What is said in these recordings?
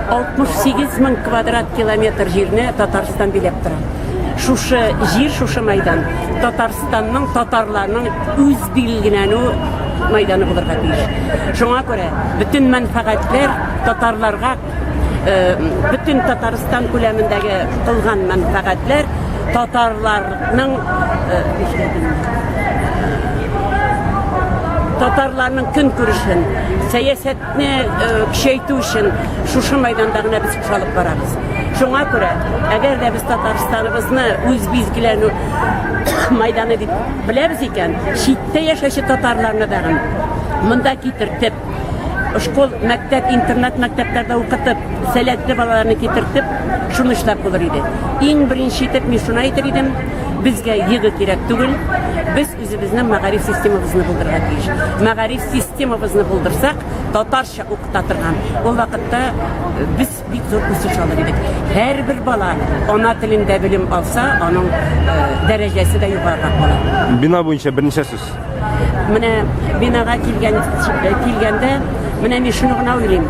68 мең квадрат километр җирне Татарстан биләп тора. Шушы җир, шушы мәйдан Татарстан Татарстанның татарларның үз билгеләнү мәйданы булырга тиеш. Шуңа күрә бөтен мәнфәгатьләр татарларга э, бөтен Татарстан күләмендәге кылган мәнфәгатьләр татарларның э, татарларның көн күрешен, сәясәтне э, көчәйтү өчен шушы мәйданда гына без кушалып барабыз. Шуңа күрә, әгәр дә без Татарстаныбызны үз билгеләнү мәйданы дип беләбез икән, читтә яшәүче татарларны дагын монда китертеп, школ, мәктәп, интернат мәктәпләрдә укытып, сәләтле балаларны китертеп, шуны эшләп булыр иде. Иң беренче итеп мин шуны әйтер идем, безгә йыгы кирәк түгел, без үзебезнең мәгариф системабызны булдырырга тиеш. Мәгариф системабызны булдырсак, татарча укыта торган, ул вакытта без Бик зур үсеш алыр идек. Һәрбер бала ана телендә белем алса, аның дәрәҗәсе дә югарырак була. Бина буенча берничә сүз? Менә бинага килгән килгәндә, менә мин шуны гына уйлыйм.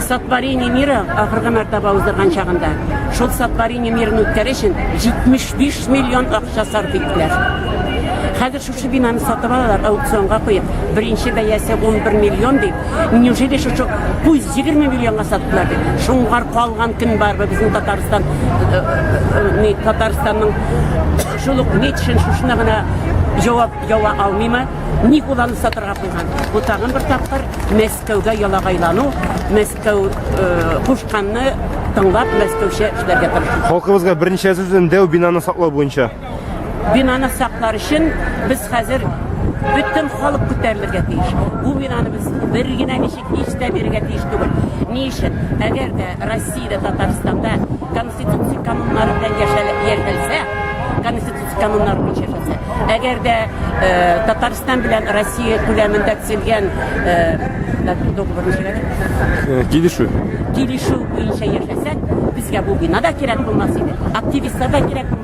Сатварение мира ахыргы мәртәбә уздырган чагында шул сатварение мирны үткәрү өчен 75 миллион акча сарыф иттеләр. Хәзер Шушы бинаны сатып алалар, аукционга куеп, беренче бәясе 11 миллион дип. Неужели шушы 120 миллионга саттылар дип? Шуңгар калган кем бар безнең Татарстан, э, э, э, Татарстанның шул ук ничен шушына гына җавап ява алмыймы? Ни кулланып сатырга куйган? Бу тагын бер тапкыр Мәскәүгә ялагайлану, Мәскәү кушканны тыңлап, Мәскәүчә эшләргә тырышу. Халкыбызга беренче әзерләнгән дәү бинаны саклау буенча Бинаны саклар өчен без хәзер бөтен халык күтәрелергә тиеш. Бу бинаны без бер генә ничек һич тә бирергә тиеш түгел. Ни өчен? Әгәр дә Россиядә, Татарстанда конституция кануннары белән яшәлеп яшәлсә, конституция кануннары буенча яшәлсә, әгәр дә э, Татарстан белән Россия күләмендә төзелгән э, договор ничек әле? Килешү. килешү буенча яшәсәк, безгә бу бина да кирәк булмас иде, активистлар да кирәк булмас.